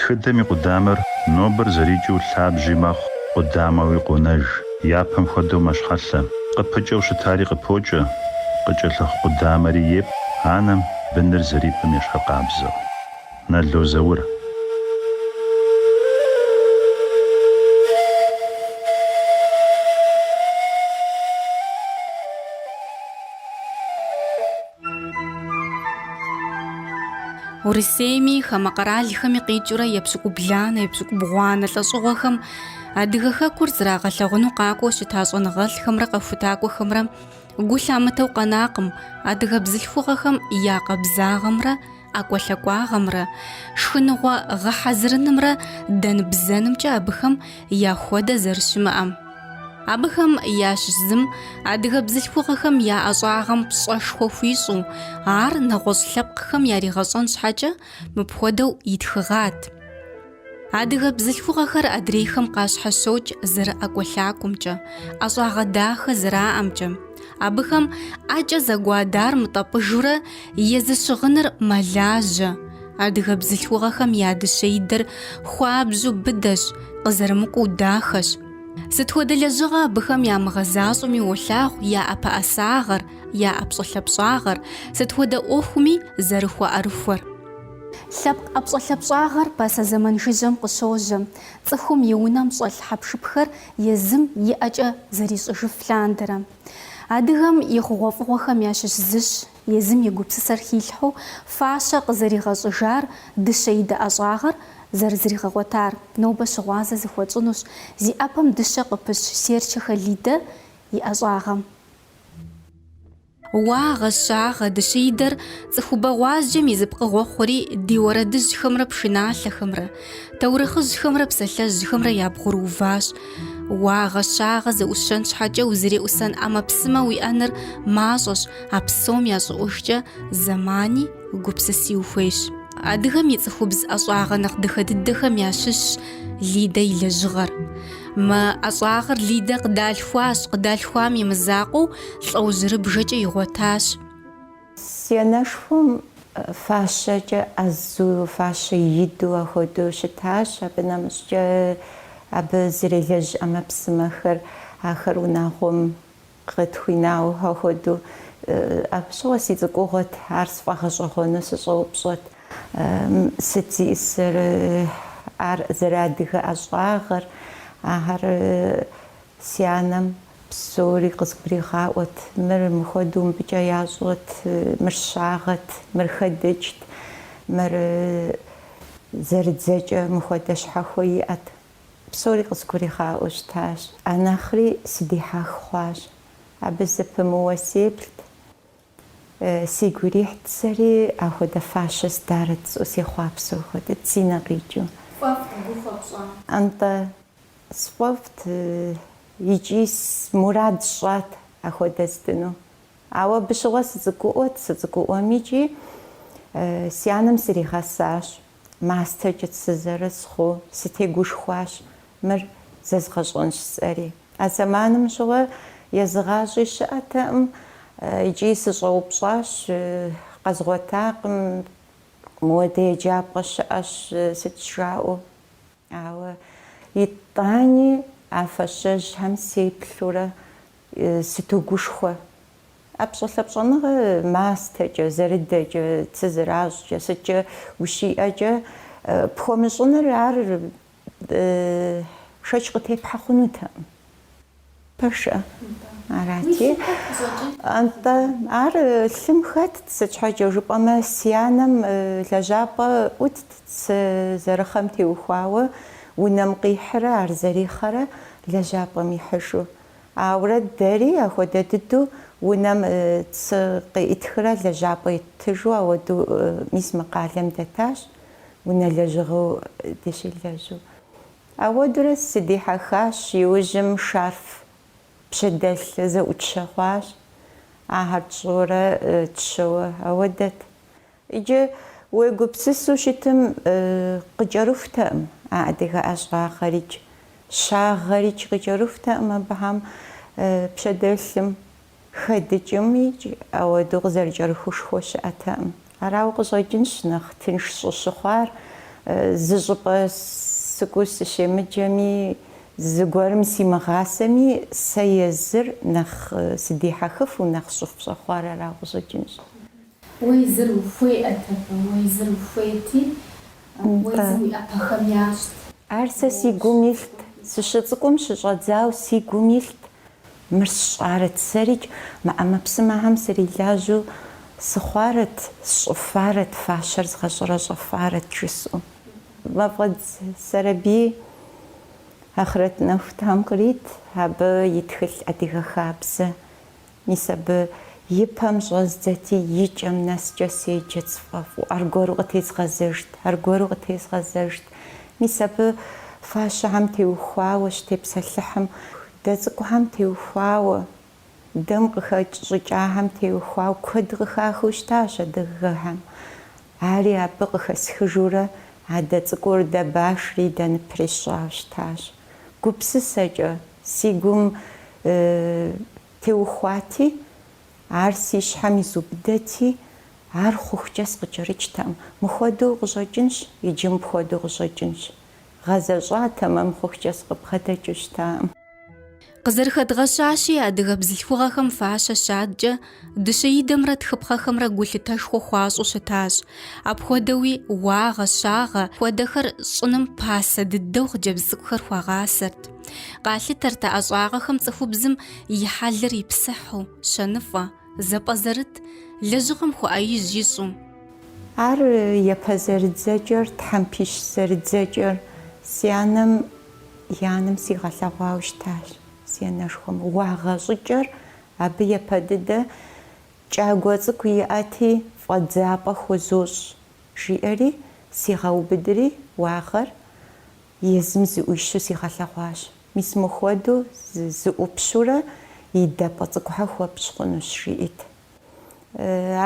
Тхыдэм и къудамэр нобэр зэрикӏыу лъабжьи мэхъу, къудамэуи къонэж. Япэм хуэдэу мэщхьэлъэ. Къыпыкӏэу щытари къыпокӏэ, къыкӏэлъыхъу къудамэри епӏ анэм быныр зэрипӏым ещхьыркъабзэу. Нало Заур. Урысейми, хамэ къэралхэми къикӏыурэ епщыкӏубланэ, епщыкӏубгъуанэ лӏэщӏыгъуэхэм адыгэ хэкур зрагъэлъагъуну къакӏуэу щыта щӏэныгъэлӏхэмрэ къэхутакӏуэхэмрэ гу лъамытэу къэнакъым, адыгэ бзылъхугъэхэм я къабзагъэмрэ ӏэкӏуэлъакӏуагъэмрэ шхыныгъуэ гъэхьэзырынымрэ дэн-бзэнымкӏэ абыхэм яхуэдэ зэрыщымыӏэм. Абыхэм ящыщ зым адыгэ бзылъхугъэхэм я ӏэщӏагъэм пщӏэшхуэ хуищӏу, ар нэгъуэщӏ лъэпкъхэм яригъэщӏэн щхьэкӏэ, мыпхуэдэу итхыгъат. Адыгэ бзылъхугъэхэр адрейхэм къащхьэщокӏ зэрыӏэкӏуэлъакӏуэмкӏэ, ӏэщӏагъэ дахэ зэраӏэмкӏэ. Абыхэм ӏэкӏэ зэгуадар мытӏэпӏыжурэ езы щыгъыныр мэлажьэ. Адыгэ бзылъхугъэхэм я дыщэидэр хуабжьу быдэщ, къызэрымыкӏуэу дахэщ. Сыт хуэдэ лэжьыгъэ абыхэм ямыгъэзащӏэми уолъагъу я ӏэпэӏэсагъэр, я ӏэпщӏэлъапщӏагъэр, сыт хуэдэ ӏуэхуми зэрыхуэӏэрыхуэр. Лъэпкъ ӏэпщӏэлъапщӏагъэр пасэ зэман жыжьэм къыщожьэ, цӏыхум и унэм щӏэлъ хьэпшыпхэр езым и ӏэкӏэ зэрищӏыжыф лъандэрэ. Адыгэм и хъугъуэфӏыгъуэхэм ящыщ зыщ, езым и гупсысэр хилъхьэу фащэ къызэригъэщӏыжар, дыщэидэ ӏэщӏагъэр зэрызригъэгъуэтар. Нобэ щыгъуазэ зыхуэтщӏынущ зи ӏэпэм дыщэ къыпыщ Серчэхэ Лидэ и ӏэщӏагъэм. Уагъэ, щагъэ, дыщэидэр цӏыхубэ гъуазджэм и зы пкъыгъуэ хъури ди уэрэдыжьхэмрэ пшыналъэхэмрэ, таурыхъыжьхэмрэ псалъэжьхэмрэ ябгъурыуващ. Уагъэ, щагъэ зэӏущэн щхьэкӏэ узэреӏусэн ӏэмэпсымэ уиӏэныр мащӏэщ, а псом ящӏыӏужкӏэ зэмани гупсыси ухуейщ. Адыгэм и цӏыхубз ӏэщӏагъэ нэхъ дахэ дыдэхэм ящыщщ Лидэ и лэжьыгъэр. Мы ӏэщӏагъэр Лидэ къыдалъхуащ, къыдалъхуам и мызакъуэу лӏэужьырыбжэкӏэ игъуэтащ. Си анэшхуэм фащэкӏэ ӏэзу, фащэ иду ахуэдэу щытащ. Абы нэмыщӏкӏэ абы зэрелэжь ӏэмэпсымэхэр, ахэр унагъуэм къытхуинауэ ахуэдэу. Абы щыгъуэ си цӏыкӏугъуэт, ар сфӏэгъэщӏэгъуэну сыщӏэупщӏэт. Сыт зиӏысыр? Ар зэрыадыгэ ӏэщӏагъэр, ахэр. Си анэм псори къызгуригъаӏуэт, мыр мыхуэдэу мыбыкӏэ ящӏэт, мыр щагъэт, мыр хэдыкӏт, мыр зэрыдзэкӏэ мыхуэдэ щхьэхуэ иӏэт. Псори къызгуригъаӏуэу щытащ. А нэхъри сыдихьэх хъуащ. Абы зэпымыууэ сеплът. Си гу ирихьт сэри ахуэдэ фащэ здарэт жысӏэу сехъуапсэу хуэдэт, си нэ къикӏыу. Пфӏэфӏт, гу хуэпщӏа? Нтӏэ, сфӏэфӏт икӏи мурад сщӏат ахуэдэ здыну. Ауэ абы щыгъуэ сыцӏыкӏуӏуэт, сыцӏыкӏуӏуэм икӏи си анэм сригъэсащ, мастэркӏэ сызэрысхъуу сытегушхуащ, Мыр зэзгъэщӏэнщ сэри. А зэманым щыгъуэ езыгъащӏи щыӏэтэкъым икӏи сыщӏэупщӏащ, къэзгъуэтакъым, мыуэдэ еджапӏэ щыӏэщ сыт жаӏэу. Ауэ итӏани а фащэжьхэм сеплъурэ сытогушхуэ. Ӏэпщӏэлъапщӏэныгъэ мастэкӏэ, зэрыдэкӏэ, цы зэращӏкӏэ, сыткӏэ ущиӏэкӏэ пхуэмыщӏыныр ар Шэч къытепхьэ хъунутэкъым. Пэжкъэ? Арати. Антӏэ, ар лъым хэтт, сыт щхьэкӏэ жыпӏэмэ, си анэм лэжьапӏэ ӏутт цы зэрыхъэм теухуауэ унэм къихьрэ ар зэрихъэрэ лэжьапӏэм ихьыжу. Ауэрэ дэри ахуэдэ дыдэу унэм цы къеӏытхрэ лэжьапӏэ иттыжу ауэдэу мис мы къалэм дэтащ. унэ лэжьыгъэу дыщылэжьу. Ауэдурэ сыдихьэхащ, иужьым шарф пщэдэлъ зэӏутщэ хъуащ, ахэр тщӏыурэ тщэуэ ауэдэт. Иджы уегупсысу щытым къыкӏэрыхутэкъым а адыгэ ӏэщӏагъэрикӏ, щагъэрикӏ къыкӏэрыхутэкъым абыхэм пщэдэлъым Хэдыкӏымикӏ, ауэдэу къызэрыкӏэрыхушхуэ щыӏэтэкъым. Арауэ къыщӏэкӏынщ нэхъ тынш щӏысщыхъуар, зы щӏыпӏэ сыкӏуэу сыщемыджэми, зыгуэрым симыгъасэми, сэ езыр нэхъ сыдихьэхыфу, нэхъ щӏыфпщӏэхъуар арауэ къыщӏэкӏынщ. Уэ езыр ухуеӏэт абы, уэ езыр ухуейти, уэ езым уи ӏэпэхэм ящӏт. Ар сэ си гум илът, сыщыцӏыкӏум щыщӏэдзауэ си гум илът. Мыр сщӏарэт сэрикӏ, мы ӏэмэпсымэхэм срилажьэу сыхъуарэт, сщӏыфарэт, фащэр згъэщӏэрэщӏэфарэт жысӏэу. Мафӏэдз Сэрэбий ахърэт нэху Тхьэм кърит, абы и тхылъ адыгэ хабзэ. Мис абы и пэм щӏэздзэти, и кӏэм нэскӏэ седжэт сфӏэфӏу, аргуэру къытезгъэзэжт, аргуэру къытезгъэзэжт. Мис абы фащэхэм теухуауэ щытепсэлъыхьым, дэ цӏыкӏухэм теухуауэ, дэм къыхэкӏ щӏыкӏахэм теухуауэ куэд къыхахыу щытащ адыгэхэм. Ари абы къыхэсхыжурэ а дэ цӏыкӏур дэ башри дэ ныпри сщӏауэ щытащ. Гупсысэкӏэ, си гум теухуати, Ар си щхьэм изубыдэти, ар хъухукӏэ скъыкӏэрыкӏтэкъым. Мыхуэдэу къыщӏэкӏынщ иджы мыпхуэдэу къыщӏэкӏынщ. Гъэзэщӏа тэмэм мыхъухукӏэ сыкъыбгъэдэкӏыу щытакъым. Къызэрыхэдгъэщащи, адыгэ бзылъхугъэхэм фащэ щадкӏэ, дыщэидэмрэ тхыпхъэхэмрэ гулъытэшхуэ хуащӏу щытащ. Апхуэдэуи уагъэ, щагъэ хуэдэхэр щӏыным пасэ дыдэу хъыджэбз цӏыкӏухэр хуагъасэрт. Къалъытэрт а ӏэщӏагъэхэм цӏыхубзым и хьэлыр ипсыхьу, щэныфӏэ, зэпӏэзэрыт, лэжьыгъэм хуэӏэижь ищӏу. Ар япэ зэрыдзэкӏэр, тхьэмпищ зэрыдзэкӏэр си анэм и анэм сигъэлъэгъуауэ щытащ, си анэшхуэм. Уагъэ щӏыкӏэр абы япэ дыдэ, кӏагуэ цӏыкӏу иӏэти, фӏэдзапӏэ хузощӏ, жиӏэри, сигъэубыдри, уагъэр Езым зыӏуищу сигъэлъэгъуащ. Мис мыхуэдэу зыӏупщурэ и дэпӏэ цӏыкӏухэр хуэпщӏ хъунущ, жиӏэт.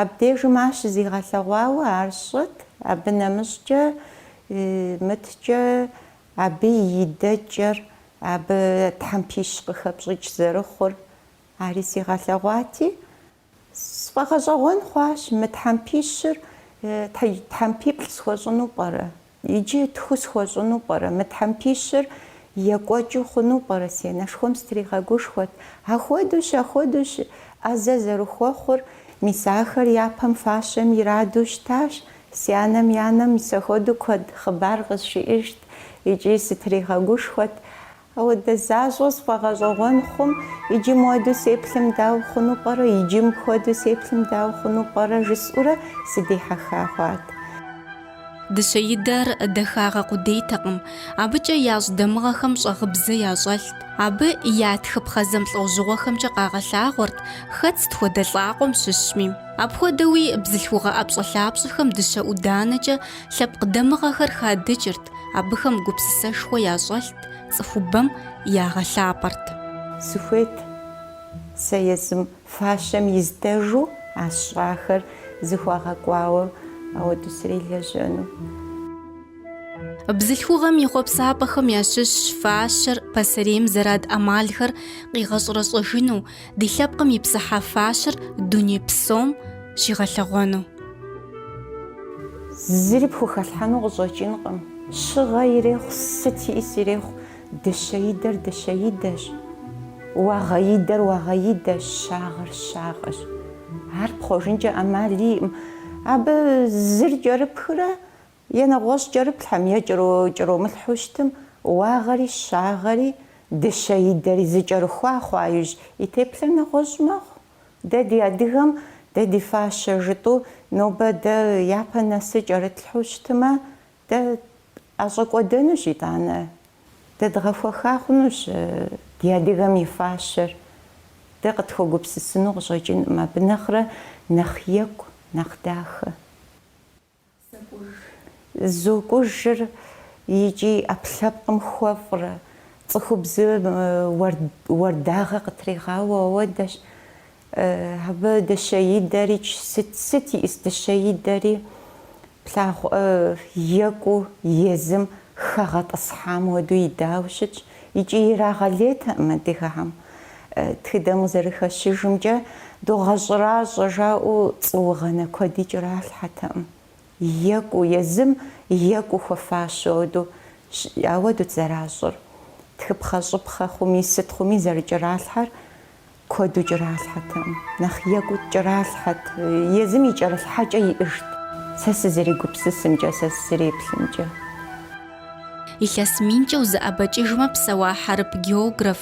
Абдежым ар щызигъэлъэгъуауэ ар сщӏэт, абы нэмыщӏкӏэ мыткӏэ абы и идэкӏэр, абы тхьэмпищ къыхэпщӏыкӏ зэрыхъур ари сигъэлъэгъуати, Сфӏэгъэщӏэгъуэн хъуащ, мы тхьэмпищыр тхьэмпиплӏ схуэщӏыну пӏэрэ? Иджы тху схуэщӏыну пӏэрэ? Мы тхьэмпищыр екӏуэкӏыу хъуну пӏэрэ? Си анэшхуэм сытригъэгушхуэт. Ахуэдущ, ахуэдущ! ӏэзэ зэрыхуэхъур, мис ахэр япэм фащэм ираду щытащ. Си анэм и анэм мис ахуэдэу куэд хъыбар къызжиӏэжт икӏи сытригъэгушхуэт. Ауэдэ защӏэ сфӏэгъэщӏэгъуэн хъум, иджы муэду сеплъым дауэ хъуну пӏэрэ, иджы мыпхуэдэу сеплъым дауэ хъуну пӏэрэ жысӏурэ сыдихьэха хъуат. Дыщэидэр дахагъэ къудейтэкъым, абыкӏэ ящӏ дамыгъэхэм щӏэгъыбзэ ящӏэлът. Абы я тхыпхъэ зэмылӏэужьыгъуэхэмкӏэ къагъэлъагъуэрт, хэт сыт хуэдэ лӏакъуэм щыщми. Апхуэдэуи бзылъхугъэ ӏэпщӏэлъапщӏэхэм дыщэ ӏуданэкӏэ Лъэпкъ дамыгъэхэр хадыкӏырт, абыхэм гупсысэшхуэ ящӏэлът, цӏыхубэм ягъэлъапӏэрт. Сыхуейт сэ езым фащэм издэжу а сщӏахэр зыхуагъэкӏуауэ ауэду срилэжьэну. Бзылъхугъэм и хъуэпсапӏэхэм ящыщщ фащэр пасэрейм зэрад ӏэмалхэр къигъэщӏэрэщӏэжыну, ди лъэпкъым и псыхьэ фащэр дуней псом щигъэлъэгъуэну. Зыри пхухэлъхьэну къыщӏэкӏынкъым. Щыгъэ ирехъу, сыт иӏыс ирехъу, дыщэидэр дыщэидэщ, уагъэидэр уагъэидэщ, щагъэр щагъэщ. Ар пхъуэжынкӏэ ӏэмал иӏым. Абы зыр кӏэрыпхрэ Е нэгъуэщӏ кӏэрыплъхьэм е зыр кӏэромылъхьэу щытым уагъэри щагъэри дыщэидэри зы кӏэрыхуа хъуа иужь и теплъэр нэгъуэщӏ мэхъу. Дэ ди адыгэм дэ ди фащэ жытӏу нобэ дэ япэ нэсыр кӏэрытлъхьэу щытымэ дэ ӏэщӏэкӏуэдэнущ итӏанэ. Дэ дгъэхуэха хъунущ ди адыгэм и фащэр. Дэ къытхуэгупсысыну къыщӏэкӏынкъым абы нэхърэ нэхъ екӏу, нэхъ дахэ. Зокӏужыр икӏи ӏэпкълъэпкъым хуэфӏрэ цӏыхубзым уардагъэ къытригъауэ ауэдэщ. Абы дыщэидэри сыт иӏыс, дыщэидэри плъагъу екӏуу езым хэгъэтӏысхьам хуэдэу идауэ щытщ. Икӏи ирагъэлейтэкъым адыгэхэм. Тхыдэм къызэрыхэщыжымкӏэ, догъэщӏэращӏэ жаӏэу цӏуугъэнэ куэди кӏэралъхьэтэкъым. Екӏуу, езым екӏуу хуэфащэу ауэдэу ауэдэут зэращӏыр. Тхыпхъэщӏыпхъэ хъуми, сыт хъуми зэрыкӏэралъхьэр Куэду кӏэралъхьэтэкъым, нэхъ екӏуу кӏэралъхьэт, езым и кӏэрылъхьэкӏэ иӏыжт, сэ сызэрегупсысымкӏэ, сэ сызэреплъымкӏэ. Илъэс минкӏэ узэӏэбэкӏыжмэ псэуа хьэрып географ,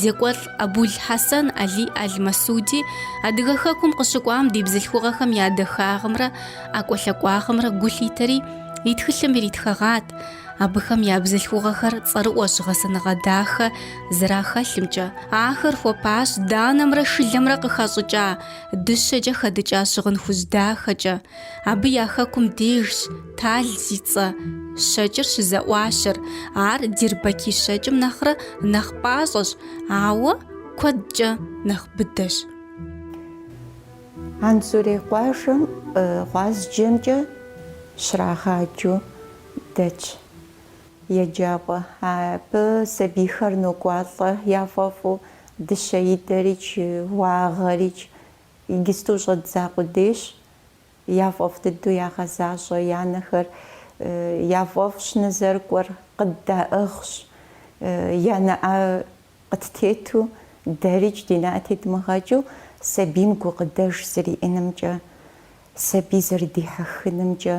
зекӏуэлӏ Абул-Хьэсэн Алий Аль-Масуди Адыгэ хэкум къыщыкӏуам ди бзылъхугъэхэм я дахагъымрэ ӏэкӏуэлъэкӏуагъымрэ гу лъитэри, и тхылъым иритхэгъат, Абыхэм я бзылъхугъэхэр цӏэрыӏуэщ гъэсэныгъэ дахэ зэрахэлъымкӏэ. Ахэр хуэпащ данэмрэ шылэмрэ къыхэщӏыкӏа дыщэкӏэ хэдыкӏа щыгъын хужь дахэкӏэ. Абы я хэкум дежщ тал зи цӏэ щэкӏыр щызэӏуащэр. Ар Дирбэки щэкӏым нэхърэ нэхъ пӏащӏэщ, ауэ куэдкӏэ нэхъ быдэщ. Анзорей къуажэм гъуазджэмкӏэ щрагъаджэу дэтщ еджапӏэ. Абы сабийхэр нокӏуалӏэ яфӏэфӏу, дыщэидэрикӏ, уагъэрикӏ. Иджысту щӏэддза къудейщ. Яфӏэфӏ дыдэу ягъэзащӏэ. Янэхэр яфӏэфӏщ нызэрыкӏуэр, къыддаӏыгъщ. Я нэӏэ къыттету, дэрикӏ ди нэӏэ тедмыгъэкӏыу, сабийм гукъыдэж зриӏынымкӏэ, сабий зэрыдихьэхынымкӏэ.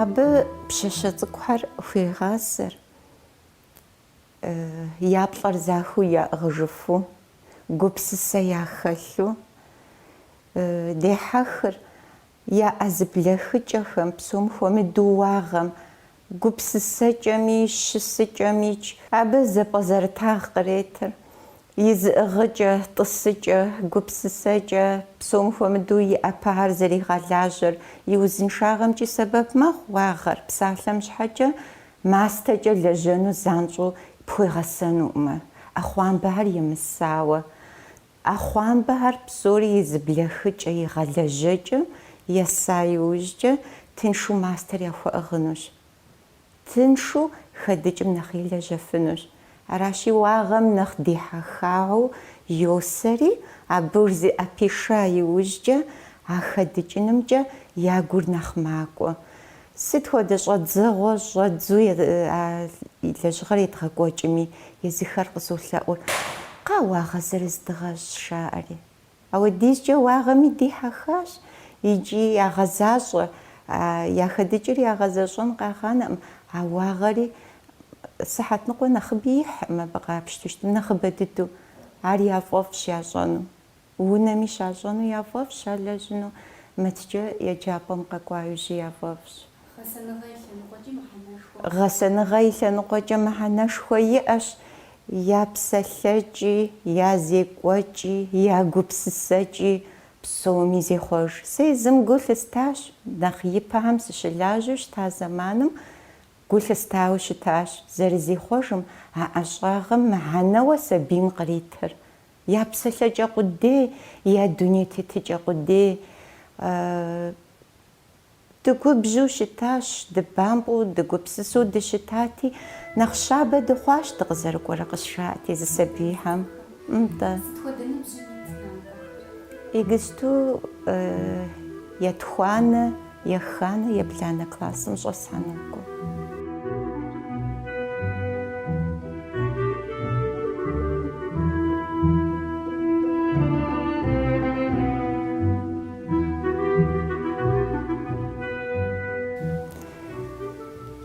Абы пщащэ цӏыкӏухэр хуегъасэр, я плӏэр захыу яӏыгъыжыфу, гупсысэ яхэлъу дехьэхыр, я ӏэ зэблэхыкӏэхэм, псом хуэмыдэу уагъэм, гупсысэкӏэми, щысыкӏэмикӏ, абы зэпӏэзэрытагъ къретыр, и зыӏыгъыкӏэ, тӏысыкӏэ, гупсысэкӏэ, псом хуэмыдэу и ӏэпэхэр зэригъэлажьэр, и узыншагъэмкӏи сэбэп мэхъу уагъэр, псалъэм щхьэкӏэ мастэкӏэ лэжьэну занщӏэу пхуегъэсэнукъымэ, ӏэхъуамбэхэр емысауэ. Ӏэхъуамбэхэр псори и зэблэхыкӏэ, и гъэлэжьэкӏэм еса иужькӏэ тыншу мастэр яхуэӏыгъынущ. Тыншу хэдыкӏым нэхъ илэжьэфынущ. Аращи, уагъэм нэхъ дихьэхауэ йосэри, абы зыӏэпиша иужькӏэ а хэдыкӏынымкӏэ я гур нэхъ макӏуэ. Сыт хуэдэ щӏэдзэгъуэ щӏэдзу а лэжьыгъэр едгъэкӏуэкӏми, езыхэр къызолъэӏур, Кхъа, уагъэ зырыз дыгъэщӏ, жаӏэри. Ауэдизкӏэ уагъэми дихьэхащ икӏи ягъэзащӏэ. Я хэдыкӏыр ягъэзэщӏэн къагъанэкъым, а уагъэри сыхьэт ныкъуэ нэхъыби ихькъым абы къапщту щытым, нэхъыбэ дыдэу. Ар яфӏэфӏщ ящӏэну. Унэми щащӏэну яфӏэфӏщ, алэжьыну мыткӏэ еджапӏэм къэкӏуа иужьи яфӏэфӏщ. Гъэсэныгъэ и лъэныкъуэкӏи мыхьэнэшхуэ. Гъэсэныгъэ и лъэныкъуэкӏэ мыхьэнэшхуэ иӏэщ я псэлъэкӏи, я зекӏуэкӏи, я гупсысэкӏи псоми зехъуэж. Сэ езым гу лъыстащ, нэхъ ипэхэм сыщылажьэу щыта зэманым гу лъыстауэ щытащ, зэрызехъуэжым, а ӏэщӏагъэм мыхьэнэуэ сабийм къритыр. Я псэлъэкӏэ къудей, я дуней тетыкӏэ къудей. Дыгубжьу щытащ, дыбампӏэу, дыгупсысэу дыщытати, нэхъ щабэ дыхъуащ, дыкъызэрыкӏуэрэ къысжаӏэти, зы сабийхэм. Нтӏэ. Сыт хуэдэ ныбжьым и цӏынагъуэхэр? Игысту етхуанэ. Еханэ ебланэ классым щӏэсхьэнукъым.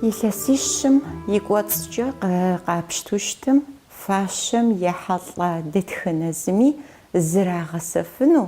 Илъэсищым и кӏуэцӏкӏэ къапщту щытым, фащэм ехьэлӏа дэтхэнэ зыми зрагъэсэфыну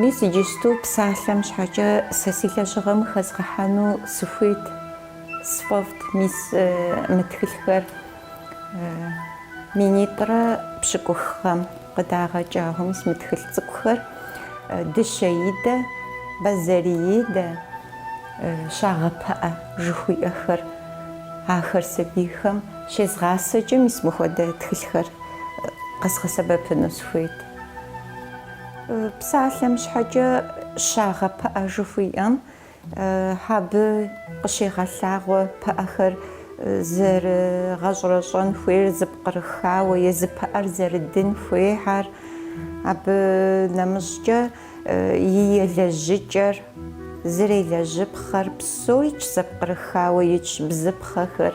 Мис иджысту псалъэм щхьэкӏэ сэ си лэжьыгъэм хэзгъэхьэну сыхуейт, сфӏэфӏт мис мы тхылъхэр. Минитӏрэ пщыкӏуххэм къыдагъэкӏагъэу мис мы тхылъ цӏыкӏухэр Дыщэ идэ, Бэзэр идэ, Щагъэпыӏэ жыхуиӏэхэр. Ахэр сабийхэм щезгъасэкӏэ мис мыхуэдэ тхылъхэр къэзгъэсэбэпыну сыхуейт. Псалъэм щхьэкӏэ Щагъэпыӏэ жыхуиӏэм Абы къыщегъэлъагъуэ пыӏэхэр зэрыгъэщӏэрэщӏэн хуейр зэпкърыхауэ езы пыӏэр зэрыдын хуейхэр, абы нэмыщӏкӏэ и елэжьыкӏэр, зэрелэжьыпхъэр, псоикӏ зэпкърыхауэ итщ бзыпхъэхэр.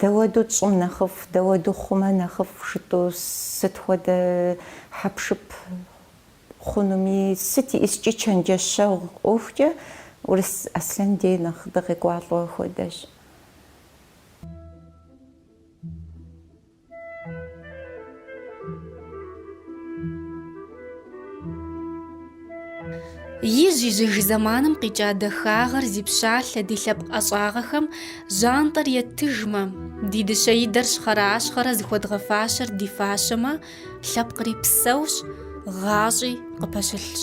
Дауэду тщӏым нэхъыфӏ, дауэду хъумэ нэхъыфӏ жытӏу, сыт хуэдэ хьэпшып хъунуми, сыт ищӏыскӏи чэнджэщэгъу ӏуэхукӏэ Урыс Аслъэн дей нэхъ дыкъекӏуалӏэу ахуэдэщ. Ижь-ижьыж зэманым къикӏа дахагъэр зи пщалъэ ди лъэпкъ ӏэщӏагъэхэм жьантӏэр етыжмэ, ди дыщэ идэр щхъэращхъэрэ зыхуэдгъэфащэр ди фащэмэ, лъэпкъри псэущ, гъащӏи къыпэщылъщ.